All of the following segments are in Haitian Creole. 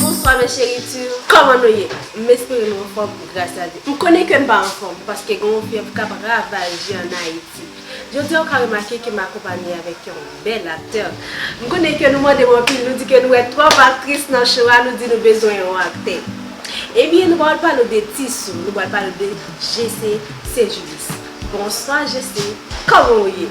Bonswa mes cheritur Koman nou ye? M espere nou anfom gras a Dye. M konnen ke m pa anfom paske gen yon fyèv kap ravaje an Ayiti. Jodi a ou ka remake ke m akonpanye avek yon bel aktè. M konnen ke nou mande m anpil, nou di ke nou wè twop aktris nan show a, nou di nou bezwen yon aktè. Ebyen nou pral pale w de Tissou, nou pral pale w de Jessé St-Julice. Bonswa Jessé, koman ou ye?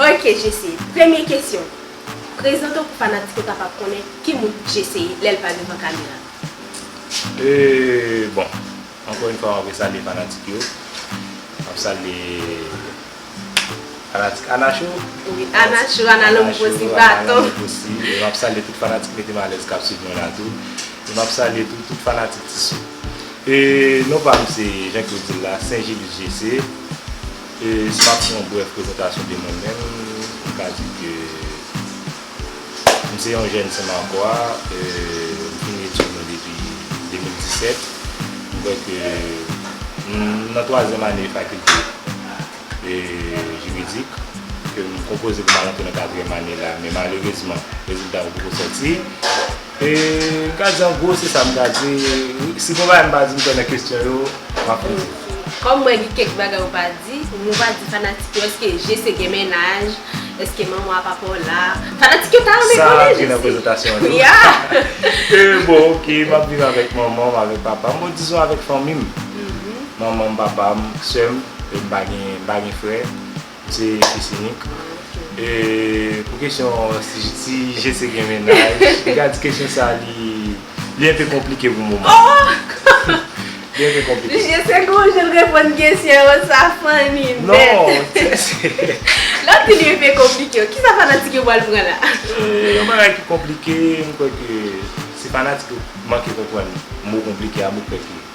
Ok Jessy, premye kesyon, prezante w pou fanatik yo kapab konnen ki moun Jessy ye lè l pa devan kamera. Bon, ankò yon fwa mwen vle salye fanatik yo, mwen salye fanatik Ana Show, Ana Lanmou Posi Baton, mwen salye tout fanatik Metem Alèz k ap swiv mwen la tou, mwen salye tou tout fanatik Ti Sou. E non pa m se jan ke w di l la, Saint-Gilles JC. E si m ap fè yon brèf prezantasyon de mwen menm, m ka di ke m se yon jèn Senmakwa, m fini etid mwen depi 2017. M kwè ke m nan twazyèm ane fakilte jiridik, ke m konpoze pou m al antre nan katriyèm ane la, men malerezman rezilta yo poko sòti. M ka di an gwo se sa m ka di. Si konpayi an pa di m konnen kesyon yo, m ap poze. Kòm mwen gen kèk bagay ou pa di, ou nou pa di fanatik yo èske Jese gen mennaj, èske manman a papa w la. Fanatik yo ta renmen konnen Jese. Sa gen nan prezantasyon an tou. Ya! E bon ok, m ap viv avèk manman m, avèk papa m, bon dizon avèk fanmi m. Manman m, papa m, sè m, e m pa gen frè. M se fils unique e pou kesyon si je se gen mennaj m ka di kesyon sa li enpe konplike pou moman li enpe konplike. Misye se gon jan l reponn kesyon yo sa funny nèt. Lè w di li enpe konplike kisa fanatik yo pral pran la? Yon bagay ki konplike m kwè ke se fanatik yo manke konprann mo konplike a m kwè ke.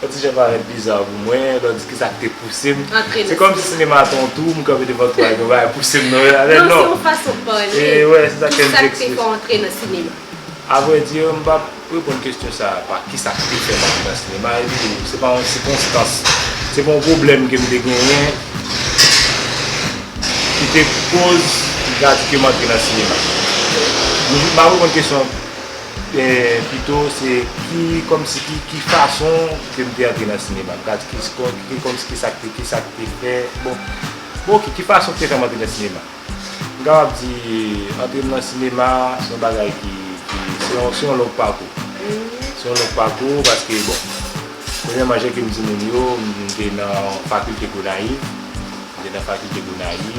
Yon ti jan parèt bizarre pou mwen, lò di kisa ki te pouse m. Antre nan sinema. Se kòm si sinema a te yon twou, m kanpe devan twou a epi yon bagay pouse m nan yon afè, non. Non, se yon fason pale. E wè, se sa ke m te eksplike. Kisa ki te fè w antre nan sinema? A vrè di, m pa reponn kesyon sa a pa kisa ki te fè m antre nan sinema epi se pa yon sikonstans, se pa yon pwoblèm ke m te genyen ki te koz m te di ke m antre nan sinema. M ap reponn kesyon an. Pito se ki kòmsi ki ki fason ke m te antre nan sinema? Kaz ki ki kòmsi ki sa k te ki sa k te fè bon bon ki ki fason k te fè m antre nan sinema? M kapab di antre m nan sinema se yon bagay ki ki se yon se yon long pakou se yon long pakou paske bon premyèman jan ke m di moun yo m te nan fakilte Gonayiv m te nan fakilte Gonayiv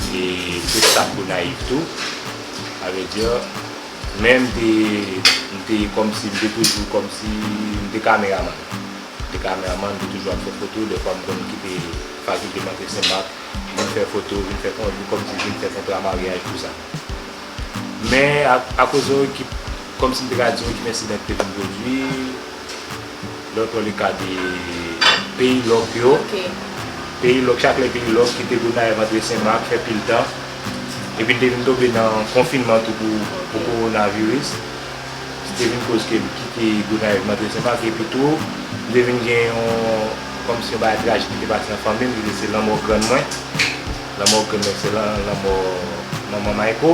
e m te staf Gonayiv tou avèdiyè Men m te, m te kòmsi, m te toujou kòmsi, m te kameraman. M te kameraman, m te toujou ap fè foto. Dèfwa m konn kite fakilte m antre Sen Mak, vin fè foto, vin fè kon, vin kòmsi vin fè kontra maryaj, tou sa. Men, akoz yon ekip, kòmsi m te ka di yon ekip ensidan ki te vin pwodui. Lò to li ka di peyi lòk yo. Peyi lòk, chak lè peyi lòk kite Gonayiv antre Senmak fè pil tan. Epi n te vin tonbe nan konfinman tou pou kowonaviris. Ki te vin koz ke m kite Gonayiv m antre Senmak. Epi tou, m te vin gen yon kòm si yon bagay trajik ki te pase nan fanmi m ki te se lanmò grann mwen. Lanmò grann mwen se lanmò manman Mayko.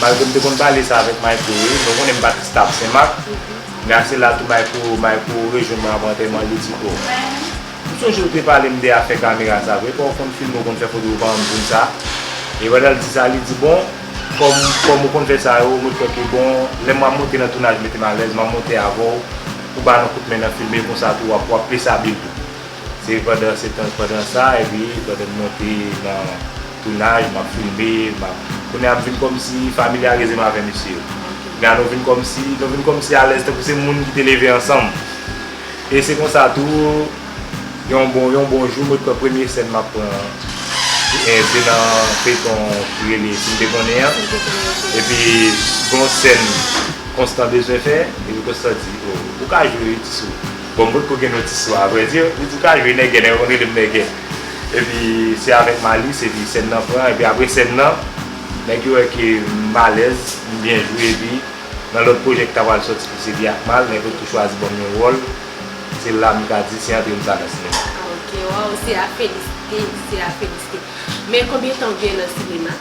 Malgre m te konn pale sa avèk Mayko wi, mwen konnen m pa t staf Senmak, men ak sila tou Mayko rejwenn mwen apre antèman l, li di, O, m sonje ou te pale m de afè kamera sa vre, epa ou konn filme ou konn fè foto ou pa ban m pou m sa? E pandan l di sa, li di, Bon, kòm ou konn fè sa yo, mwen kwè ke bon, lè m a monte nan tounaj mete m alèz, m a monte avè w pou ba nou koutmen nan filme, konsa tou w ap plis abil tou. Se pandan sa, epi pandan n monte nan. Tounaj map filme map kounye a vin kòmsi familyarize m avè mesye yo kounye a nou vin kòmsi nou vin kòmsi alèz tankou se moun ki te leve ansanm e se konsa tou yon bon yon bon jou mwen t pran premye sèn map pran se nan feyton ki rele si m te konnen an epi gon sèn konstan bezwen fè epi konstan di ou ka jwe wi ti sou bon m potko gen non ti sou avrèdi li di ou ka jwe nègè nèg la konn rele m nègè. Epi se avèk Malice epi sèn nan pran epi apre sèn nan nèg yo wè ke m alèz m byen jwe epi nan lòt pwojè ki ta pral sòti ki se Biakmal nèg yo tou chwazi banm yon wòl se la m ka di se antre m sa nan sinema. Ok waw se a felisite se a felisite men konbyen tan ou gen nan sinema?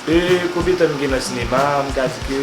Ee konbyen tan m gen nan sinema m ka di ke.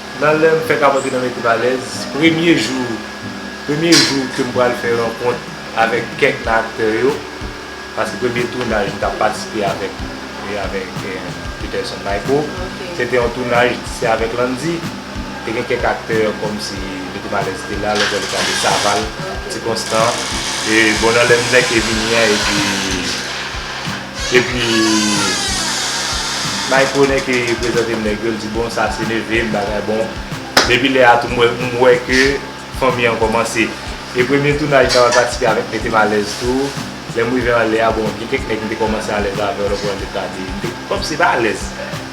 Nan lè m fèk ap antre nan Mete Valèz, premye jou premye jou ke m pral fè rankont avèk kèk nan aktè yo, paske premye tounaj m t ap patisipe avèk avèk Peterson Mayko, se te yon tounaj se avèk Landy, te gen kèk aktè kòm si Mete Valèz te la, lòt bò li t ale Saval, Ti Konstan, e bon nan lè m fèk vini an epi. Epi Mike Rene ki prezante m nèg yo l di bon sa se neve m bagay bon. Depi lè a tou m wè ke fanmi an kòmanse. E premye tounaj nan mwen patisipe avèk mete m alèz tou. Lè m rive anlè a bon gen kèk nèg m te kòmanse alèz avè yo lò pran leta a te m te pap se pa alèz.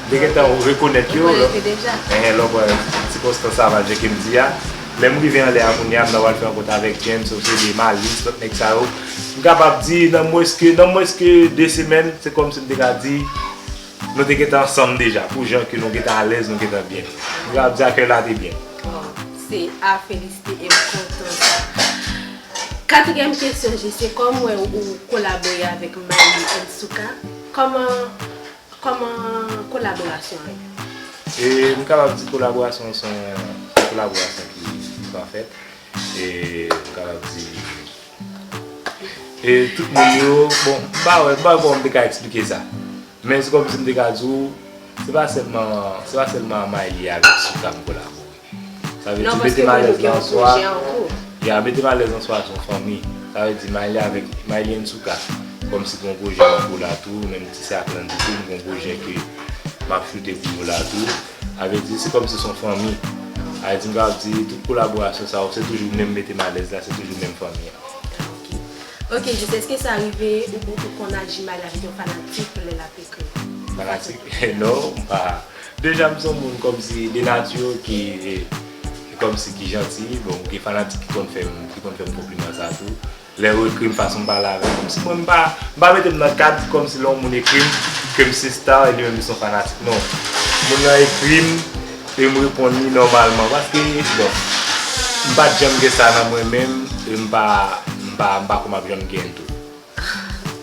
M te gentan rekonèt yo. Ou konèt yo deja. Enhen lò pran sikonstans savaje ke m di a. Lè m rive anlè a kounye a m nan pral fè rankont avèk James, Osele, Malice lòt nèg sa yo. M kapab di nan mwens ke nan mwens ke 2 semèn se kòm si m te ka di nou te gentan ansanm deja pou jan ke nou gentan alèz nou gentan byen. M kapab di akèy la te byen. Waw se a felisite e m kontan sa. Katriyèm kesyon JC kòm wè ou kolabore avèk Mayi and Souka kòman kòman kolaborasyon an ye? E m kapab di kolaborasyon an se yon kolaborasyon ki pafèt e m kapab di. E tout moun yo, bon, m pa wè, m pa wè kòman m te ka eksplike sa. Men se kòmsi m te ka di ou, se pa sèlman, se pa sèlman Maylie avèk Souca m kolabore. Sa vle di mete m alèz lan an swa, ya mete m alèz an swa se yon fanmi. Sa vle di Maylie avèk, Maylie and Souca, se kòmsi gen yon pwojè an kou la tou, menm si se ak Landy tou, m gen yon pwojè ke m ap choute pou yo la tou. Avèk di se kòm si son fanmi. Avèk di m kapab di tout kolaborasyon sa yo se toujou menm mete m alèz la se toujou menm fanmi an. Ok. Ok Jis eske sa rive ou pou ou konn aji mal avèk yon fanatik lè lap ekri? Fanatik? Non m pa. Deja m son moun kòm si de nati yo ki kòm si ki janti. Bon gen fanatik ki konn fè m ki konn fè m konpliman sa tou. Lè yo ekri m fason m pale avèk yo kòmsi mwen m pa m pa mete m nan kad kòmsi lè yon moun ekri m ke m se star e li menm li se yon fanatik non moun nan ekri m e m reponn li nòmalman paske bon m pa t janm gen sa nan mwen menm e m pa m pa m pa kwè m ap janm gen l tou.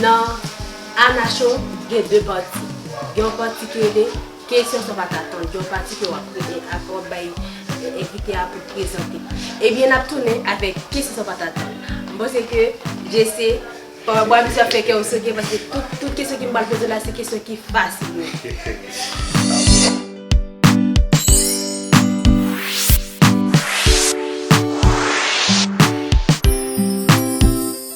Nan Ana Show gen 2 pati. Gen yon pati ki rele Kesyon san pa t atann. Gen yon pati ke w ap rele ak w ap bay envite a pou prezante. Ebyen n ap tounen avèk Kesyon san pa t atann. M panse ke JC, pa w ap bwa misye ap fè kè w sote paske tout kesyon ke m pral poze w la se kesyon ki fasil yo.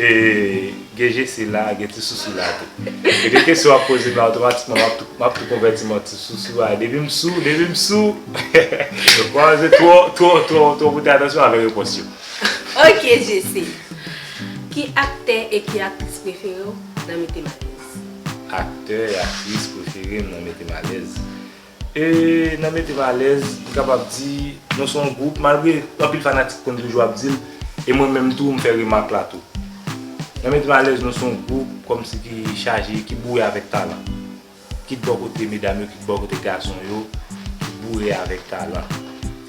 E gen jesi la gen ti sousou la tou. E gen kesyon wap poze men otomatikman map tou konvèti m an ti sousou a depi m sou depi m sou wap wè se twò twò twò twò pote atansyon avè repons yo. Ok Jesi, ki aktè e ki aktris prefere w nan Mete m alèz? Aktè e aktris prefere m nan Mete m alèz? E nan mete m alèz, m kapab di nou se yon gwoup, malgre anpil fanatik konn toujou ap di l, e mwen menm tou m fè remak la tou. Nan mete m alèz nou se yon gwoup kòmsi ki chaje, ki boure avèk talan. Kit bò kote medam yo, kit bò kote gason yo, ki boure avèk talan.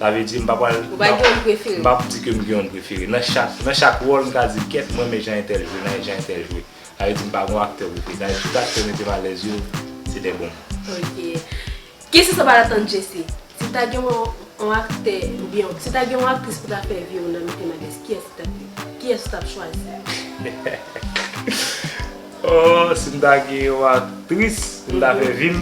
Sa vle di m pa pral, m pa ap di ke m gen yon prefere. Nan chak wòl m ka di kèt m renmen jan entèl jwe, nan jan entèl jwe. Sa vle di m pa gon aktè pou peta tout aktè metem alèz yo se dè bon moun. Ok. Kesyon sa pa la tann Jesse. Si ta gen yon aktè oubyen si ta gen yon aktris pou ta fè viw nan metem alèz kiyès li tap ye? Kiyès ou tap chwazi? Ohh sim ta gen yon aktris pou ta fè vim.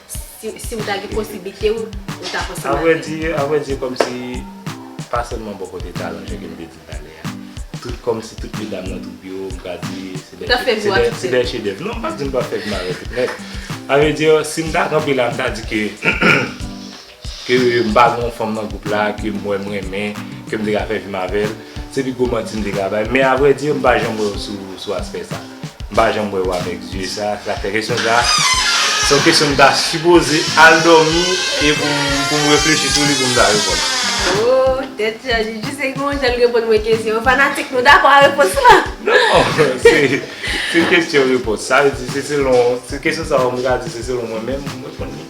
Si ou ta gen posiblite ou ta fè sa. A vrè di kòmsi pa sèlman bò kote talan jan ke m te di talè a. Tout kòmsi tout medam nan twoup yo m ka di se dè chedèv. Non m pa di m pa fè gmare tout nèt. A vrè di si m ta kanpe la m ta di ke. Ke m pa gen yon fanm nan gwoup la ke m wè m renmen, ke m te ka fè vi m avè l. Se pi gwo manti m te ka bay. Men avwèdi, m pa janm wè w sou aspè sa. M pa janm wè w avèk zye sa. Se sa k fè kesyon sa a, se yon kesyon m ta sipoze al dòmi e pou m reflechi sou li pou m ta reponn ou. O! Tèt chaje! Jis se gon jan l reponn mwen kesyon. Fanatik, nou dakò a repons la? Non! Se kesyon repons. Sa vle di se selon, se kesyon sa a m ka di se selon mwen menm, m reponn li.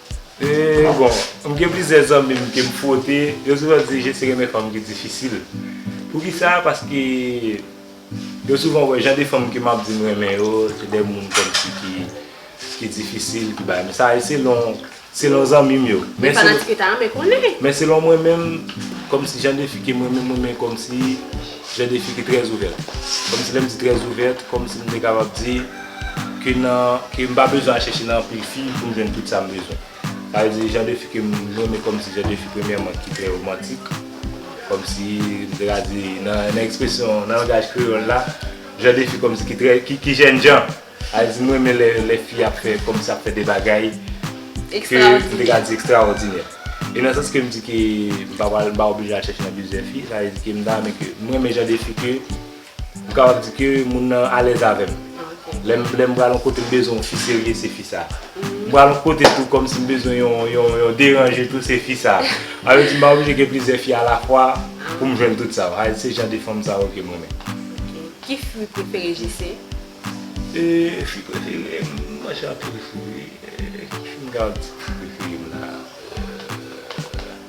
Bon, m gen plizyè zanmi m ke m fwote, yo souvan di je se renmen fanm ki difisil. Poukisa? Paske yo souvan wè jan de fanm ke m ap di m renmen yo, se de moun kòmsi ki difisil, ki bagay. Men sa se selon, selon zanmi m yo. Men fanatik yo ta renmen konnen. Men selon mwen menm, kòmsi jan de fi ke m renmen, m renmen kòmsi jan de fi ki trèzouvèt. Kòmsi lè m di trèzouvèt, kòmsi m te kapab di. Ke nan, ke m pa bezwen al chèche nan anpil fi pou m jwenn tout sa m bezwen. Sa vle di jan de fi ke m renmen kòm si jan de fi premyèman ki trè romantik. Kòm si m te ka di nan, nan ekspresyon, nan langaj kreyòl la, jan de fi kòm si ki trè, ki, ki jènjan. Sa vle di m renmen lè, lè fi ap fè, kòm si ap fè de bagay ke m te ka di ekstraòdinè. E nan sans ke m di ke m pa pral, m pa oblije al chèche nan plizyè fi, sa vle di ke m ta renmen ke, m renmen jan de fi ke. M kapab di ke moun nan alèz avè m. Lè m lè m pral yon kote m bezwen yon fi serye se fi sa. M pral yon kote tou kòm si m bezwen yon yon yon deranje tou se fi sa. Sa vle di m pa oblije gen plizyè fi alafwa pou m jwenn tout sa. Sa vle di se jan de fanm sa yo ke m renmen. Ok. Ki fwi prefere JC? E fwi prefere m, m manje anpil fwi wi. Ki fwi m kapab di ki fwi prefere m la?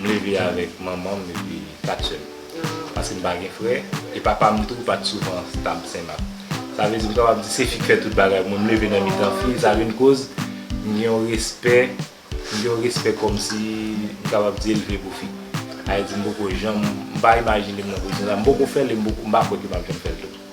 M leve avèk manman m epi 4 sè m. Paske m pa gen frè, e papa m tou pa t souvan stab Senmak. Sa vle di m kapab di se fi k fè tout bagay pou mwen. M leve nan mitan fi, sa vin koz m gen yon respè, m gen yon respè kòmsi m kapab di elve pou fi. Sa vle di m poko janm, m pa imajine m nan pozisyon sa. M poko fè l e m pa kwè ke m ap janm fè l tou.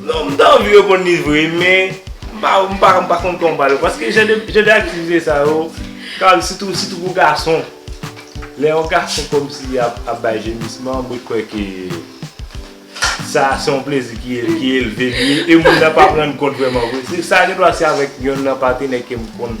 Non m ta anvi reponn li vre men m pa m pa m pa konn kòman pale paske jan de jan de aktivite sa yo kal sitou sitou pou gason lè yon gason kòmsi li ap ap bay jemisman m wè kwè ke sa se yon plezi ki ki elve li e moun nan pa p rann kont vrèman vre se sa gen dwa se avèk yonn nan patenè ke m konn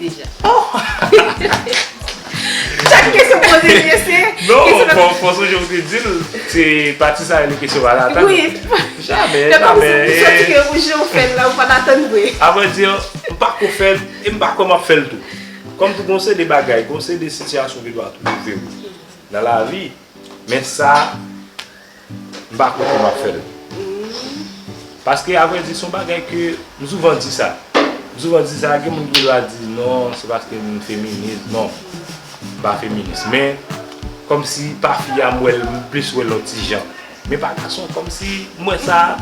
Deja. Chak kesyon m poze li yo se. Non, fò sonje m te di l, se pati sa rele kesyon pa latann. Wi. Jamè, jamè. Ou santi ke ou jan ou fè l la ou pa t atann vre. A vrè di, m pa ko fè l e m pa kwè m ap fè l tou. Kòm tou gon seri de bagay, gon seri de sitiyasyon ki dwa twouve w nan lavi. Men sa, m pa kwè ke m ap fè l. Paske a vrè di, se yon bagay ke, m souvan di sa. M souvan di sa, gen moun ki va di, non, se paske m feminis. Non, m pa feminis. Men, kòmsi pa fi a, m wè l, m plis wè l yon ti jan. Men pa gason komsi m wè sa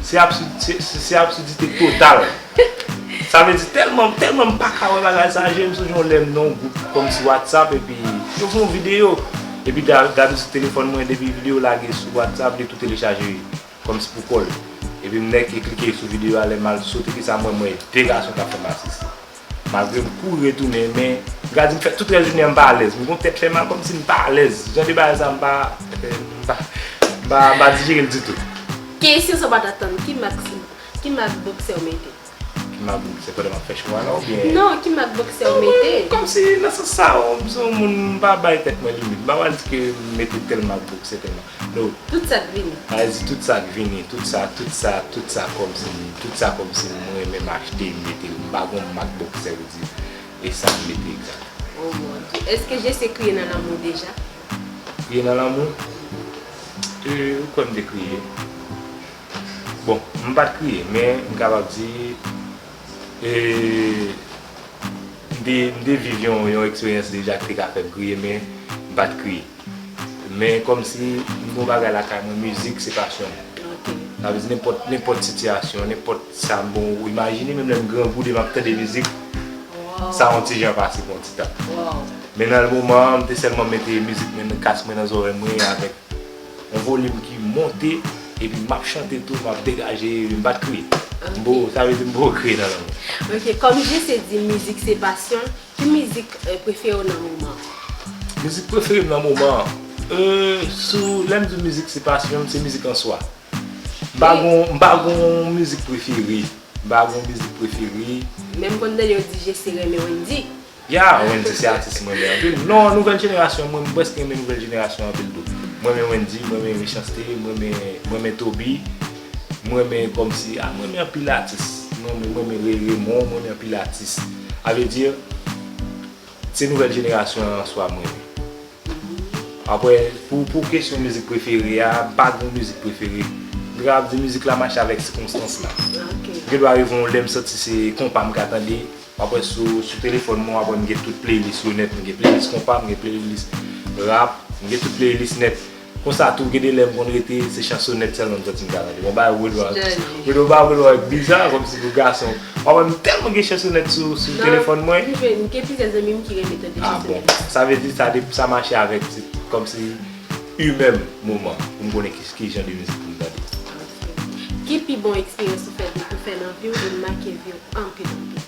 se absidite total sa vle di telman telman m paka wè bagay sa je m sonje yon lè m nan yon gwoup komsi whatsapp epi yo fè yon video epi gade sou telefon mwen depi video lage sou whatsapp li tou telechaje komsi pou kol epi m nèke klike sou video a lè m al sot epi sa m wè m wè 2 gason kap fè masisi. Malgre m kouri retounen men gad m fè tout rès jounen an m pa alèz. M gon tèt fè mal kòmsi m pa alèz. Jan de bagay sa m pa m pa dijere l ditou. Kesyon sa w pa t atann, ki mak ki mak boksè w mete? Ki mak boksè pandan m ap fè show a la oubyen? Non, ki mak boksè w mete? Kòmsi nan sans sa w m se yon moun m pa bay tèt mwen limit. M pa pral di ke m mete tèl mak boksè tèl. No. Tout sa k vini. Pa di tout sa k vini, tout sa, tout sa, tout sa kòmsi, tout sa kòmsi m renmen m achte m mete l, m pa gon mak boksè w di e sa m mete egzat. O mon Dye! Èske Jese kriye nan lanmou deja? Kriye nan lanmou? Ee, ou kwè m te kriye? Bon, m pa t kriye men m kapab di ee m te viv yon eksperyans deja ki te ka fè m kriye men m pa t kriye. Men kòmsi m gen yon bagay lakay mwen mizik se pasyon m. Sa vle di nenpòt nenpòt sitiyasyon, nenpòt sa m bon ou imajine menm lè m grangoude m ap tande mizik sa yon ti jan pase pou yon ti tan. Men nan moman an m te sèlman mete mizik mwen nan kas mwen nan zòrèy mwen avèk yon volim ki monte epi m ap chante tou m ap degaje m pa t kriye. M boo sa vle di m boo kriye nan lanmou. Ok kòm JC di mizik se pasyon l. Ki mizik prefere w nan moman an? Mizik prefere m nan moman an? Lè m di w mizik se pasyon m, se mizik an swa. M pa gen yon mizik prefere. M pa gen yon mizik prefere. Men m konn tande yo di Jesi renmen Wendyy. Ya, Wendyy se atis m renmen anpil. Non, nouvèl jenerasyon an, mwen prèske renmen nouvèl jenerasyon an anpil tou. M renmen Wendyy, m renmen Mechans-T, m renmen Toby. M renmen komsi a m renmen anpil atis m renmen m renmen Ray Raymond m renmen anpil atis a vle di se nouvèl jenerasyon an answa m renmen aprè pou pou kesyon mizik prefere a m pa gen yon mizik prefere m ta kapab di mizik la mache avèk sikonstans la gen dwa rive yon lè m santi se konpa m ka tande aprè sou sou telefòn mwen aprè m gen tout playlist yo nèt m gen playlist konpa m gen playlist rap m gen tout playlist nèt. Konsa tou gen de lè m konn rete se chansonèt sèlman m santi m ta tande. Mwen bay Rod Wall Rod mwen bay Rod Wall biza kòmsi pou gason pa wè m tèlman gen chansonèt sou telefòn mwen. Nan prive m gen plizyè zanmi m ki renmen tande chansonèt. Ah bon. Sa vle di sa depi sa mache avèk se kòmsi imè m moman pou m konnen ki jan de mizik pou m tande. Ok. Ki pi bon eksperyans ou fè ou fè nan vi w e l make vi w anpil anpil?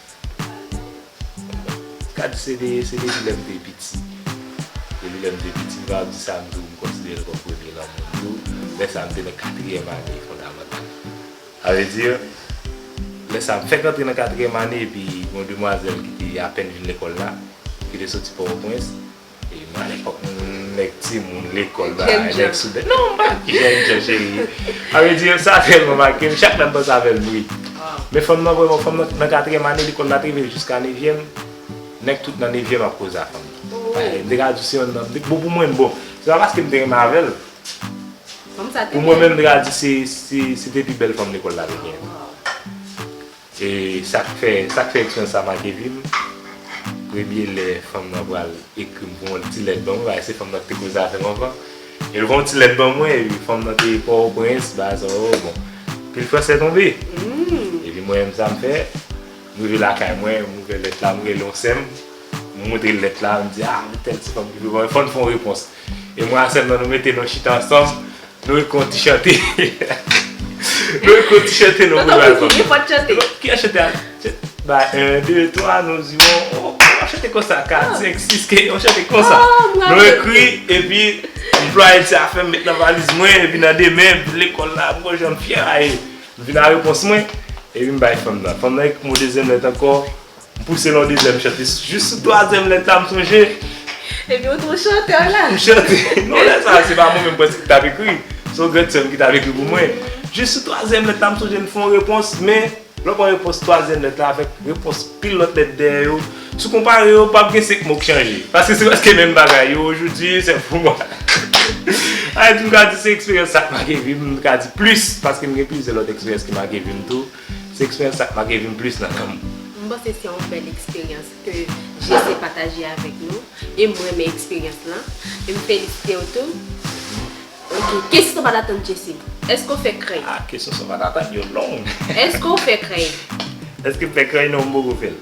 Gad CD se depi lèm te piti Depi lèm te piti m pa ap di sa m tou m konsiderel kòm premye lanmou m tou lè sa m te nan katriyèm ane fondamantal sa vle di lè sa m fèk antre nan katriyèm ane epi gon demwazèl ki te apèn vin lekòl la ki te soti pòtoprens. Mwen fok nèg timoun lekol ba ay nèg soudèt. Non mwen pa jèn jan cheri. A vre di sa telman make m chak lè m panse avèl m ri. Men fanm nan vreman fanm nan nan katriyèm ane lekol la te rive jiska nevyèm nèg tout nan nevyèm ap koze ak fanm nan. M te ka di se yon nan bon pou mwen bon se pa paske m te renmen avèl pou mwen menm m te ka di se te pi bèl fanm lekol la te genyen. E sak fè sak fè eksperyans sa make vim premye lè fanm nan pral ekrim pou yon ti lèt ban mwen paske se fanm nan ki te koze avèm anvan el fè yon ti lèt ban mwen epi fanm nan te pò o prens bagay sa yo bon pil fransè tonbe epi mwen menm sam fè m rive lakay mwen m ouvè lèt la m rele yon sèm m moutrel lèt la m di a m tèl ti fanm ki vle ban mwen fòn fon repons. E mwa selman nou mete nou chita ansanm nou ekri yon ti chante Nou ekri yon ti chante nou pou album nan. Fò n chante. Ki yon chante a? Ba 1, 2, 3 nou ziwon oh yon chante konsa 4, 5, 6 ke yon chante konsa Nou ekri epi anplwaye m se a fèm met nan valiz mwen epi nan demen pou lekòl la m wè jan m fyè a e m vin a repons mwen epi m bay fanm nan Fanm nan ekri m yon dezyèm lèt ankò M pouse nan dezyèm m chante jis sou twazyèm lèt la m sonje. Epi ou t on chantè la. M chante. Non lè sa se pa mwen menm prèske ki t ap ekri. Se yon grand sè m ki t ap ekri pou mwen. Jis sou twazyèm lèt la m sonje m t fè yon repons men lè w pran repons twazyèm lèt la avèk repons pil lòt lèt dèyè yo si w konpare yo pap gen 5 mo k chanje paske se prèske menm bagay yo ojoudyi se pou mwen Ayiti m ka di se eksperyans sa k make vi m m ka di plis paske m gen plizyè lòt eksperyans ki make vi m tou. Se expérience sa k make vim plis nan nanm. M panse se yon bèl eksperyans ke JC pataje avèk nou e m renmen eksperyans lan e m felisite w tou. Ok, kesyon sa w pa t atann JC, èske w fè krèy? Ah kesyon sa w pa t atann yo long. Èske w fè krèy? Èske m fè krèy? Non m poko fè l.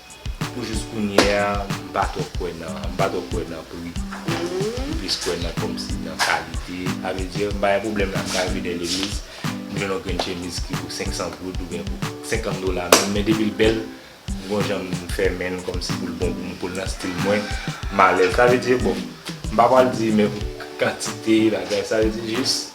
Pou jous kounye a, m pa twò kwè nan, m pa twò kwè nan pri. M plis kwè nan kòmsi nan kalite. A vre di, m pa gen pwoblèm la m ka rive dèyè legliz, m jwenn yon grenn chemiz ki pou 500 goud oubyen pou 50 dola menm, men depi l bèl, m gon jan m fè men l kòmsi pou l bon pou m, pou l nan stil mwen, m alèz. Sa vle di, bon, m pa pral di menm kantite bagay, sa vle di jis.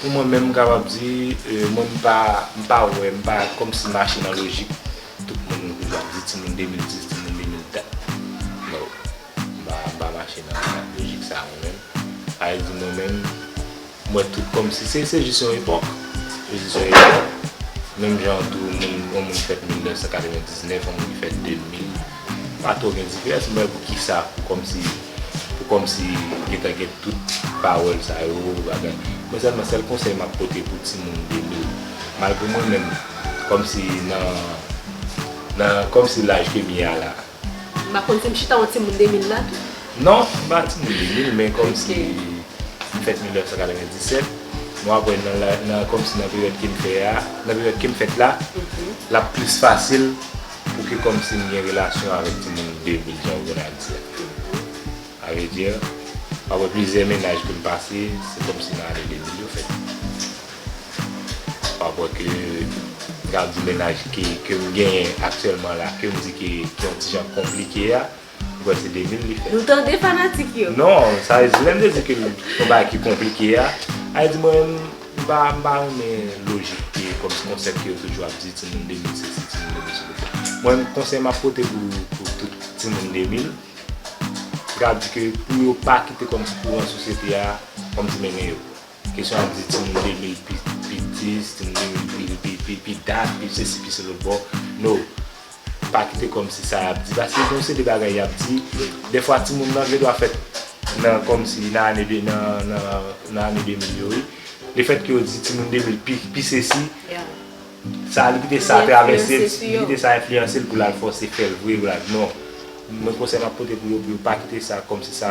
Pou mwen menm m kapab di, mwen m pa, m pa wè, m pa kòm si m mache nan lojik tout moun nou toujou ap di timoun 2010, timoun 2004. No. M pa, m pa mache nan lojik sa mwen menm. Sa vle di mwen menm, m wè tout kòm si se, se jis yon epòk. Se jis yon epòk. Menm jan tou moun, yon moun ki fèt 1999, yon moun ki fèt 2000. Pa twò gen diferans men pou kisa pou kòmsi pou kòmsi gentan gen tout pawòl sa yo bagay mwen sèlman sèl konsèy map pote pou timoun 2000 malgre mwen menm kòmsi nan nan kòmsi laj kem ye a la. M pa konn si m chita yon timoun 2000 la tou. Non m pa timoun 2000 men kòmsi m fèt 1997 m ap wè nan la nan kòmsi nan peryòd kem fè a nan peryòd kem fèt la lap plis fasil Ou ke komsi m gen relasyon avek timoun David jan ou vin ap di a. A vrai dire, apre plizyè mennaj ke m pase, se komsi m rale David yo fèt. Wap wè ke m ka di mennaj ke m genyen aktyèlman la, ke m di ke ki yon ti jan konplike a, Ou kwè se devine li fè. Nou tande fanatik yo. Non, sa vle di lè m te di ke son bagay ki konplike a, sa vle di mwen menm m pa m pa renmen lojik ke kòm konsèp ke yo toujou ap di timoun 2000 se si timoun 2000 se konsa. Mwen menm konsèy map pote pou pou tout timoun 2000, se ta di ke pou yo pa kite kòm si kouran sosyete a kòm si mennen yo. Kesyon ap di timoun 2000 pi pitis, timoun 2000 pi pi pi dat, pi sesi pi selo boo, no, pa kite kòmsi sa yap di, paske gen yon seri de bagay yap di, dèfwa timoun nan gen dwa fèt nan kòmsi nan ane 2000 nan ane 2000 yo wi, lefètke yo di timoun 2000 pi pi sesi, Sa li kite sa travèse l, li kite sa enfliyanse l pou l al fòse fè l vre Brad non. Mwen konsèy m ap pote pou yo pou yo pa kite sa kòmsi sa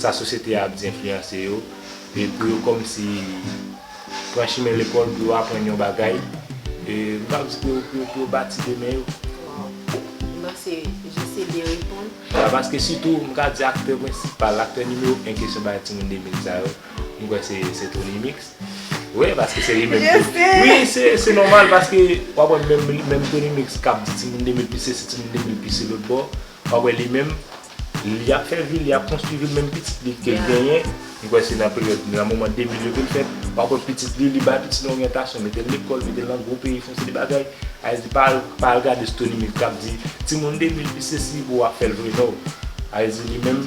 sa sosyete a ap di enfliyanse yo e pou yo kòmsi pran chimen lekòl pou yo aprann yon bagay e m pa ap di pou yo pou yo bati demen yo. Waww nan se jis e byen reponn. Paske sitou m ka di aktè prensipal, aktè nimewo 1 kesyon bay timoun 2000 sa yo. Mwen kwè se se Tony mix. Wi paske se li menm ki. Yes se. Wi se se nòmal paske wap wè menm li menm Tony mix kap di timoun 2000 plis sesi timoun 2000 plis se lòtbò. Wap wè li menm li ap fè vi li ap konstwi vil menm pitit li kel genyen. Mwen kwè se nan peryòd nan moman 2000 yo kel fèt. Wap wè pitit li li bay pitit li oryantasyon metel lekòl metel nan gwo peyi fon seri bagay. Ayiti pa al pa al gade sou Tony mix kap di timoun 2000 plis sesi pou wap fèl vre no. Ayiti li menm.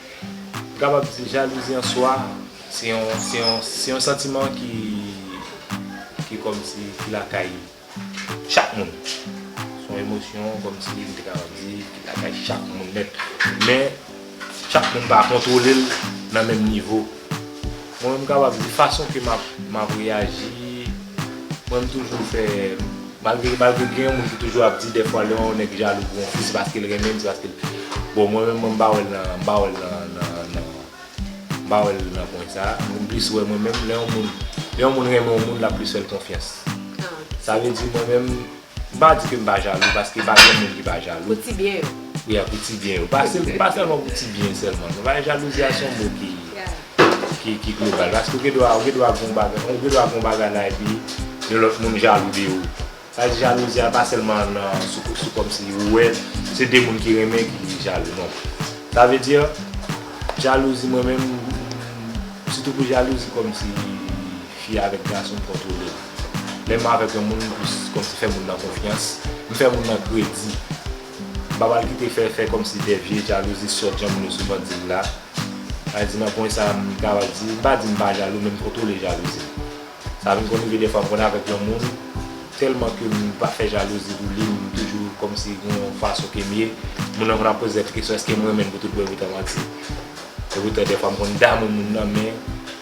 M kapab di jalouzi an swa se yon se yon se yon santiman ki ki kòmsi ki lakay chak moun. Se yon emosyon kòmsi m te kapab di ki lakay chak moun nèt. Men chak moun pa kontwole l nan menm nivo. Mwen menm m kapab di fason ke m ap reyaji, mwen menm toujou fè, malgre malgre gen yon moun ki toujou ap di dèfwa lè yon nèg jalou pou yon fi se paske l renmen l, se paske l, bon mwen menm m pa wè l nan, m pa wè l nan, nan, nan, m pa wè l nan pwen sa, m plis wè mwen menm lè yon moun, lè yon moun renmen yon moun l ap plis fè l konfyans. Sa vle di mwen menm. M pa di ke m pa jalou paske pa gen moun ki pa jalou. Pou ti byen yo. Yeah pou ti byen yo. Pa sèlman pou ti byen sèlman. Konprann jalouzi a se yon mo ki global. Paske ou gen dwa gen yon bagay la epi yon lòt moun jalou de ou. Sa vle di jalouzi a pa sèlman nan sou kòmsi ou wè se 2 moun ki renmen ki jalou non. Sa vle di jalouzi mwen menm sitou pou jalouzi kòmsi. Fi avèk gason m kontwole l. Lè m avèk yon moun m plis kòmsi fè moun nan konfyans, m fè moun nan kredi. Babal ki te fè fè kòmsi de vye jalouzi sòt jan moun yo souvan di l la. Sa vle di nan pwen sa a m kapab di, m pa di m pa jalou men m kontwole jalouzi m. Sa vin konn rive dèfwa m konn avèk yon moun tèlman ke m pa fè jalouzi pou li m toujou kòmsi gen yon fason ke m ye. Moun nan konn ap poze tèt li kesyon èske m renmen l pou tout bon e pou ta manti. E poutan dèfwa m konn damou moun nan men.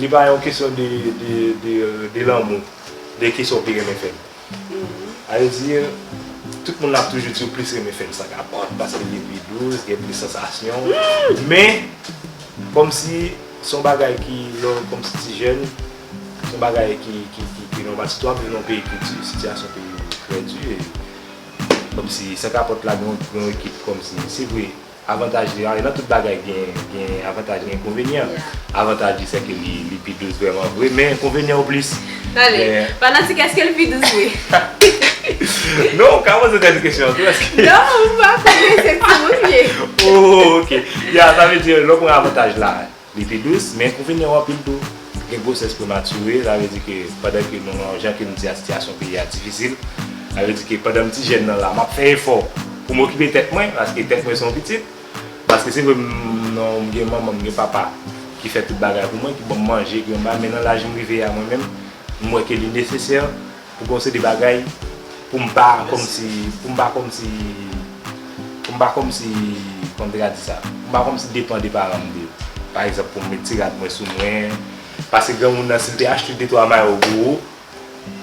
Li pa yon kesyon de lanmou, de kesyon pi renmen fèm. A ve di, tout moun ap toujou di ou plis renmen fèm sa kapòt, paske li pi dous, gen plis sansasyon. Men, kòm si son bagay ki, lò kòm si ti jèn, son bagay ki, ki, ki, ki nòmal. Sitou ap viv nan yon peyi ki di, sitiyasyon peyi yo trè di. Kòm si, san kapòt la gen yon ekip kòm si, se vre. Avantaj li nan tout bagay gen avantaj gen enkonvenyan avantaj li se ke li pi dous vreman vre men enkonvenyan ou plis tande fanatik eske li pi dous vre non ou ka poze dènye kesyon an tou eske non ou pa konnen se pou ou liye ooh ok ya sa vle di lè ou pran avantaj la. Li pi dous, men ou vin yon anpil tou. Gen gwosès premature, sa vle di ke pandan ke nou nan, jan ke m di a sitiyasyon peyi a difisil, sa vle di ke pandan m ti jèn nan la, m ap fè efò pou m okipe tèt mwen, paske tèt mwen se yon pitit, paske se vre m nan, m gen manman, m gen papa ki fè tout bagay pou mwen, ki ban m manje, ki ban m bay, men nan laj m rive a mwen menm, m wè ke li nesesè. Pou gen yon seri de bagay pou m pa kòmsi, pou m pa kòmsi, pou m pa kòmsi, kòman m te ka di sa, pou m pa kòmsi depan de paran m de, pa egzanp pou m met ti rad mwen sou mwen, paske granmoun nan si l te achte de twa mayo pou ou,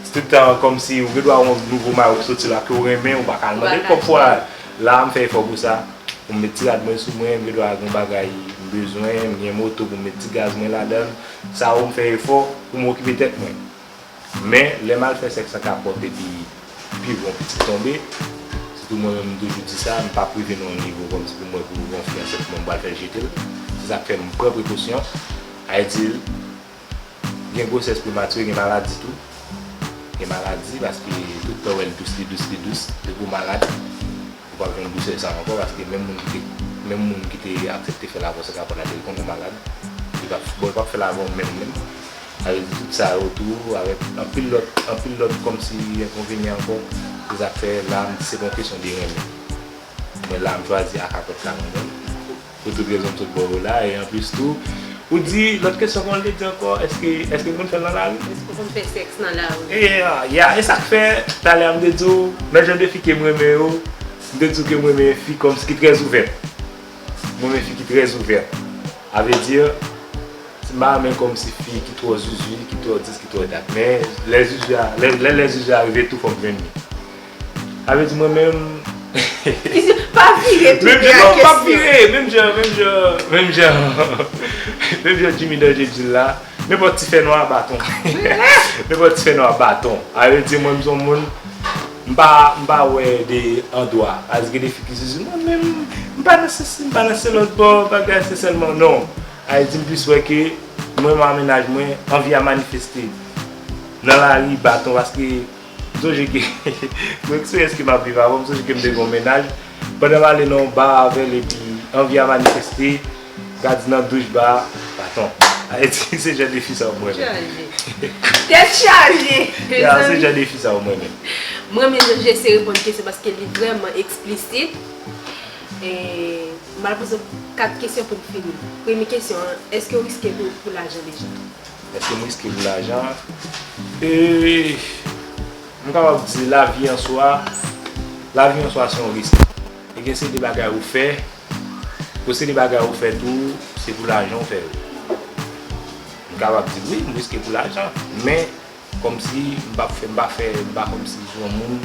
se tout tan kòmsi ou gen dwa wè yon nouvo mayo ki soti la ke w renmen, ou pa ka al mande l kòb fwa, la a m fè efò pou sa, pou m met ti rad mwen sou mwen, m gen dwa gen yon bagay m bezwen, m gen moto pou m met ti gaz mwen ladan l, sa ou m fè efò pou m okipe tèt mwen. Men, lè m al fè sèks an kapòt epi pi bon pitit tonbe, sitou mwen menm m toujou di sa, m pa prive nan yon nivo kòmsi pou m wè pou yon fi ansent mwen m pral fè jete l. Se sa k fè m pran prekosyon. Ay di l, gen gwosès prematire, gen maladi tou. Gen maladi paske tout tan w wè l dous, li dous, li dous. Depi w malad. Ou pap jwenn dousè sa ankò paske menm moun ki te menm moun ki te aksepte fèl avèw se kapòt la depi konnen ou malad li pap bon li pap fèl avèw menm menm sa vle di tout sa yo tou avèk anpil lòt anpil lòt kòmsi enkonvenyan ankò se sak fè la m di se pa yon kesyon de renmen mwen la m chwazi a kapòt la mwen menm. Pou tout rezon tout bon ou la e anplis tou ou di lòt kesyon kòman li te di ankò èske èske moun fèl nan lari? Èske ou konn fè sèks nan lari? E ya e sak fè talè a m te di w nan jan de fi ke m renmen yo m te di w ke m renmen fi kòmsi ki trè ouvèt m renmen fi ki trè ouvèt a vre di m pa renmen kòmsi fi ki twò zuzu ki twò dis ki twò dat men lè zuzu a lè lè zuzu a rive tou fòk jwenn li. Sa vle di mwen menm. Pa vire tou vye ak kesyon. Menm jan, pa vire, menm jan, menm jan, menm jan. Menm jan Jimmy Danger di l la, nenpòt ti fè nwa baton. Nenpòt ti fè nwa baton. Sa vle di mwen m son moun, m pa, m pa wè de andwa. Sa vle di gen de fi ki toujou di, mwen menm, m pa nan sesi, m pa nan se lòt bò, bagay se sèlman. Non. Sa vle di m plis wè ke mwen menm ak mennaj mwen, anvi a manifeste. Nan lari, baton, paske. M sonje ke mwen sou eske map viv avèl, m sonje ke m te gen yon mennaj, pandan m ale nan yon bar avèl epi anvi a manifeste, gad di nan douch bar a, baton. Ayiti se jan de fi sa ou mwen men. Tèt chaje! Ya, se jan de fi sa ou mwen men. M renmen jan JC reponn kesyon paske li vrèman eksplisit. M pral poze 4 kesyon pou m fini. Premye kesyon an, eske ou riske pou lajan deja? Eske m riske pou lajan an? Eee M kapab di lavi an swa, lavi an swa se yon risk. E gen seri de bagay ou fè, pou seri de bagay ou fè tou, se pou lajan ou fè yo. M kapab di wi, m riske pou lajan. Men, kòmsi m pa fè, m pa fè, m pa kòmsi se yon moun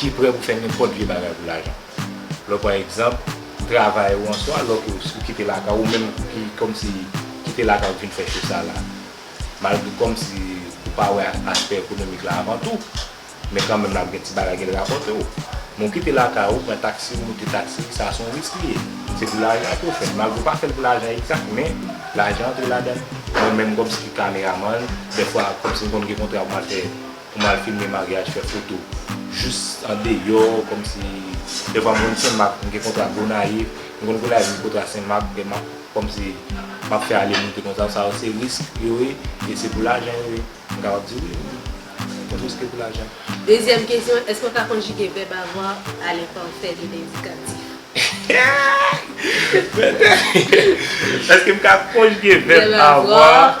ki prè pou fè nenpòt vye bagay pou lajan. Lè w pran egzanp, travay ou answa, lè ou kite lakay ou, ou menm ki kòmsi kite lakay ou vin fè cho sa la, malgre kòmsi ou pa wè aspè ekonomik la avan tou, men kanmenm l ap gen ti bagay ke l rapòte w. Men ou kite lakay ou, pran taksi, ou moute taksi, sa se yon risk li ye. Se pou lajan ke w fè l. Malgre ou pa fè l pou lajan egzak, men lajan antre ladan l. Mwen menm kòmsi ki kameramann, dèfwa kòmsi m konn gen kontra pou m al fè Ou mal filme maryaj fè foto jus andeyo komsi devan moun senmak mgen kontra gonayiv mwen konn gonayiv mgen kontra senmak demak komsi map fè ale moute konsa sa yo se risk yo ye e se pou lajan yo ye mwen kapab di wi mwen riske pou lajan. Dezyèm kesyon eske ou ka konjige vèb avoir a lenpèfè de lendikatif? Eske m ka konjige vèb avoir.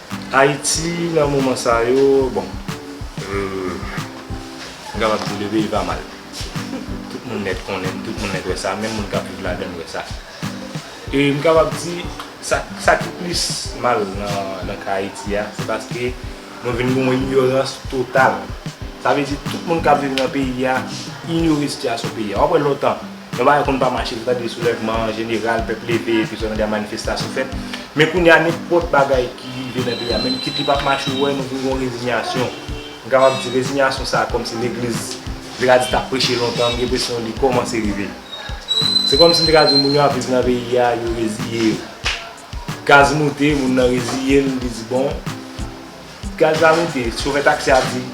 Ayiti nan moman sa yo bon m kapab di le peyi pa mal tout moun nèt konnen l tout moun nèt wè sa menm moun k ap viv ladan l wè sa e m kapab di sa ki plis mal nan ka Ayiti a se paske nou vin gen yon inyorans total sa vle di tout moun k ap viv nan peyi a inyore sitiyasyon peyi a w ap wè lontan. Yon bagay konn pa mache nou tande soulèvman an jeneral pèp leve epi sou lendè a manifestasyon fèt men kounye a nenpòt bagay ki rive nan peyi a menm kit li pap mache ou wè nou vin gon rezinyasyon m kapab di rezinyasyon sa kòmsi legliz m te ka di tap preche lontan m gen enpresyon li kòmanse rive se kòmsi m te ka di moun yo ap viv nan peyi a yo reziye yo gaz moute moun nan reziye l li di bon gaz la moute chofè taksi a di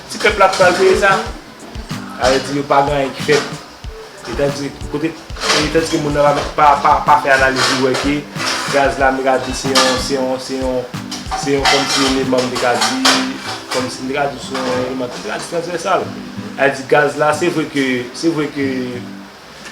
ti pèp la ki pral peye sa sa vle di yo pa gen anyen ki fèt. E tandis ke kote, e tandis ke moun nan pa mèt, pa, pa, pa fè analiz li wè ke gaz la m ta ka di se yon, se yon, se yon, se yon kòm si eleman m te ka di, kòm si m te ka di se yon eleman ki trans, transvèsal. A di gaz la se vre ke, se vre ke,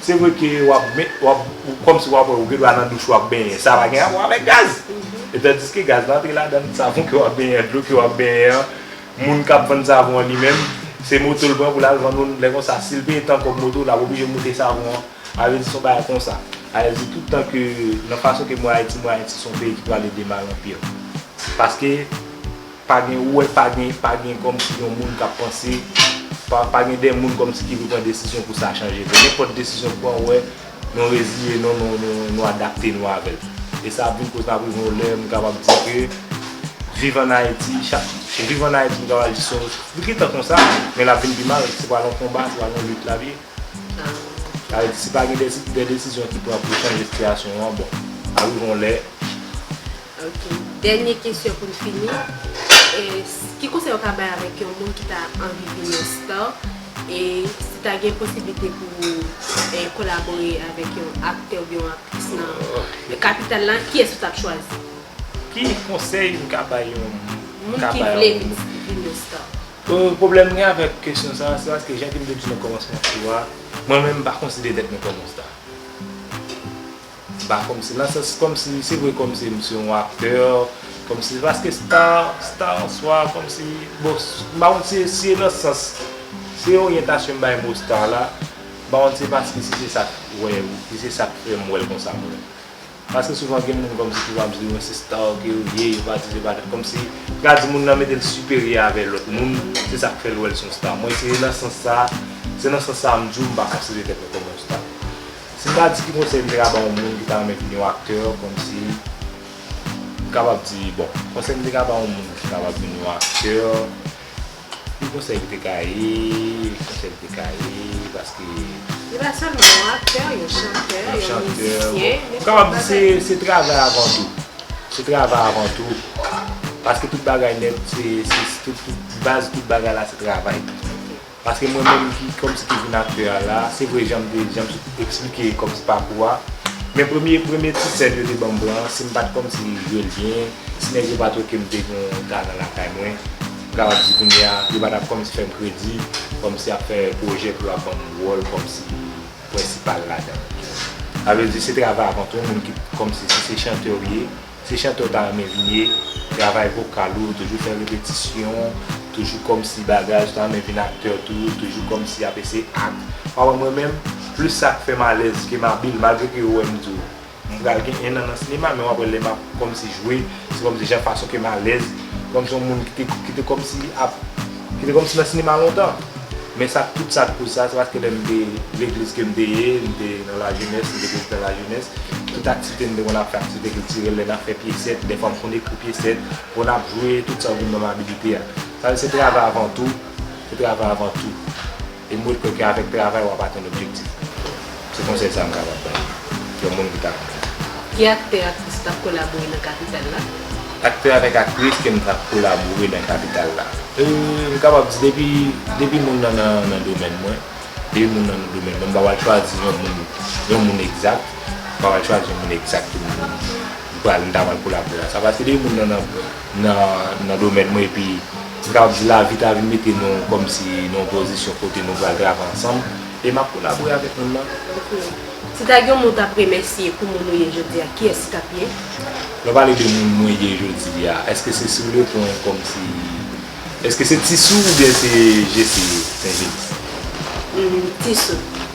se vre ke w ap met, w ap, kòm si w ap wè ou gen dwa nan douch ou ap benyen, sa pa gen rapò avèk gaz. E tandis ke gaz la antre ladan savon ke w ap benyen an, dlo ke w ap benyen an. Moun kap vann savon an li menm se moto l pran pou l al vann ou lè konsa si l peye tan kòb moto l ap oblije moute savon an avè di son bagay konsa avè di tout tan ke nan fason ke m wè ayiti m wè ayiti son peyi ki prale de mal an pire paske pa gen ou wè pa gen pa gen kòmsi yon moun kap panse pa gen de moun kòmsi ki vle pran desizyon pou sa chanje vre nenpòt desizyon ou pran ou wè Nou reziye nou, nou adapte nou avè l. E sa ap vin koz n ap rive yon lè m kapab di ke viv an Ayiti, viv an Ayiti m kapab di son, li gen tan konsa men l ap vin pi mal, se pral yon konba, se pral yon lit l ap ye. Sa vle di si pa gen de desizyon ki pran pou chanje sitiyasyon an bon, ap rive yon lè. Ok dènye kesyon pou n fini ki konsèy ou ka bay avèk yon moun ki ta anvi vin yon star e si ta gen posiblite pou ou kolabore avèk yon aktè oubyen yon aktris nan kapital la kiyès ou tap chwazi? Ki konsèy m ka bay yon moun ki vle vin yon star? Pwoblèm m gen avèk kesyon sa se paske jan ke m te di nan kòmansman tou a mwen menm m pa konsidere tèt mwen kòm yon star. M pa kòmsi nan sans kòmsi se vre kòmsi m se yon aktè kòmsi paske sta sta an swa kòmsi bon m pa konn si e si e nan sans si e oryantasyon m bay mo sta la m pa konn si e paske si se sa k wè ou si se sa k fè m wè l konsa m wè l paske souvan gen moun kòmsi ki va m di mwen se sta ke yo ye yo pa di se pa de kòmsi m ka di moun nan mete l siperyè avè lòt moun se sa k fè l wè l s on sta mwen se nan sans sa se nan sans sa m di w m pa konsidere tèt mwen kòm yon sta. Si m ta di ki konsèy m te ka ba yon moun ki ta renmen vini yon aktè kòmsi m kapab di bon konsèy m te ka ba yon moun ki kapab vini yon aktè ki konsèy li te ka ye ki konsèy li te ka ye paske Li pa sèlman yon aktè yon chantè yon mizisyen m kapab di se se travay avan tou se travay avan tou paske tout bagay nèt se tout tout baz tout bagay la se travay. Paske mwen menm ki kòmsi ki vin aktè a la, se vre jan m te jan m sot eksplike kòmsi pakou a, men premye premye ti sèn yo te ban m pran an, si m pa t kòmsi jwe l byen, si nèg yo pa t wè ke m te gen yon talan lakay mwen, m kapab di kounye a, yo pa t ap kòmsi fè m kredi, kòmsi y ap fè pwojè pou yo ap ban m wòl kòmsi prensipal ladan l. Sa vle di se travay avan tou, moun ki kòmsi si se chantè ou ye. Se chante w ta renmen vin ye, travay vokal ou, toujou fè repetisyon, toujou kòmsi bagay, ou ta renmen vin aktè tou, toujou kòmsi y ap eseye act. Pa wè mwen menm, plis sa k fè m alèz ke m abil, malgre ke yo wè m di w m pral gen 1 an nan sinema, men w ap wè lè m ap kòmsi jwe, se kòmsi jan fason ke m alèz, kòmsi yon moun ki te kòmsi ap. Ki te kòmnse nan sinema lontan. Men sa tout sa kouz sa se paske lè m te legliz ke m te ye, m te nan lajenès, m te prezidan lajenès, tout aktivite m te konn ap fè aktivite kiltirèl lè n ap fè pyesèt, dèfwa m konn ekri pyesèt, konn ap jwe tout sa ou vin ban m abilite a. Sa vle di se travay avan tou, se travay avan tou. E mwen kwè ke avèk travay wap atenn objektif ou. Se konsèy sa m kapab bay yon moun ki ta konn fè sa. Ki aktè, aktris tap kolabore nan kapital la? Aktè avèk aktris ke m tap kolabore nan kapital la? Eee, m kapab di depi, depi moun nan nan domèn mwen, depi moun nan nan domèn mwen, m pa pral chwazi yon moun, yon moun egzak, m pa pral chwazi yon moun egzak ke m pral, m ta pral kolabore avèk sa, paske depi moun nan nan, nan domèn mwen epi. M kapab di lavi ta vin mete nou kòmsi nan yon pozisyon kote nou pral travay ansanm e m ap kolabore avèk moun nan. Ok. Si ta gen yon moun ou t ap remèsye pou moun ou ye jodi a, kiyès li t ap ye? Lè w pale de moun mwen ye jodi a, èske se si w reponn kòmsi, èske se Tisou oubyen se Jesi St. James? Tisou.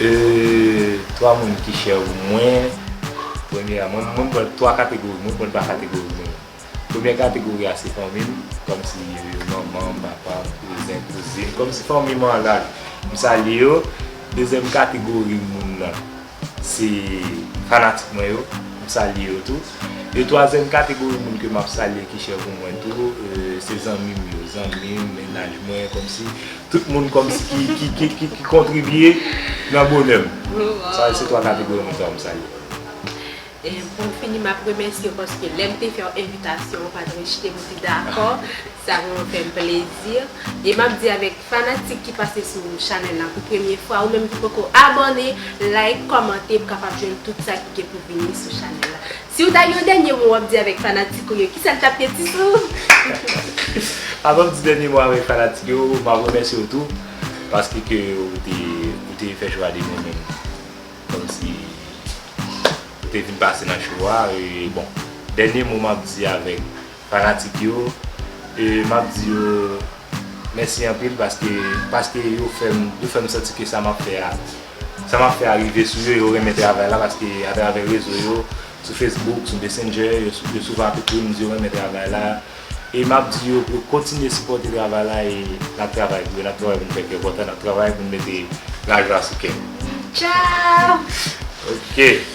Eeeeee 3 moun ki chè pou mwen Premye a, mwen m pran 3 kategori, mwen pran pa kategori moun yo. Premye kategori a se fanmi m, kòmsi yo manman m, papa m, kouzen, kouzin, kòmsi fanmi m an laj, m salye yo. Dezyèm kategori moun nan se fanatik mwen yo, m salye yo tou. E twazyèm kategori moun ke m ap salye ki chè pou mwen tou se zanmi m yo, zanmi m, mennaj mwen, kòmsi. Tout moun kòmsi ki kontribye nan bonè m. Sa yo se 3 kategori moun sa yo m salye. Pou m fini m ap remèsye w paske lè m te fè w envitasyon ou pa t rejte m ou te dakò. Sa vrèman fè m plezi. E m ap di avèk fanatik ki pase sou chanèl la pou premye fwa ou menm ki poko abòne like kòmante pou kapab jwenn tout sa ki gen pou vini sou chanèl la. Siw ta gen yon dènye mo wap di avèk fanatik ou yo kisa li tap ye ti sou? Avanm di dènye mo avèk fanatik yo map remèsye w tou paske ke ou te ou te fè chwa de renmenm kòmsi ou te vin pase nan show a e bon dènye mo map di avèk fanatik yo e map di yo mèsi anpil paske paske yo fèm yo fèm santi ke sa map fè a Sa map fè a rive sou yo, yo renmen travay la paske atravè rezo yo, sou Facebook, sou Messenger, yo souvan ap ekri m di yo renmen travay la e map di yo pou yo kontinye sipòte travay la e nap travay pou yo, nap travay pou n fè kè kontan, nap travay pou n mete lajwa sou kè nou. Tchao! Ok.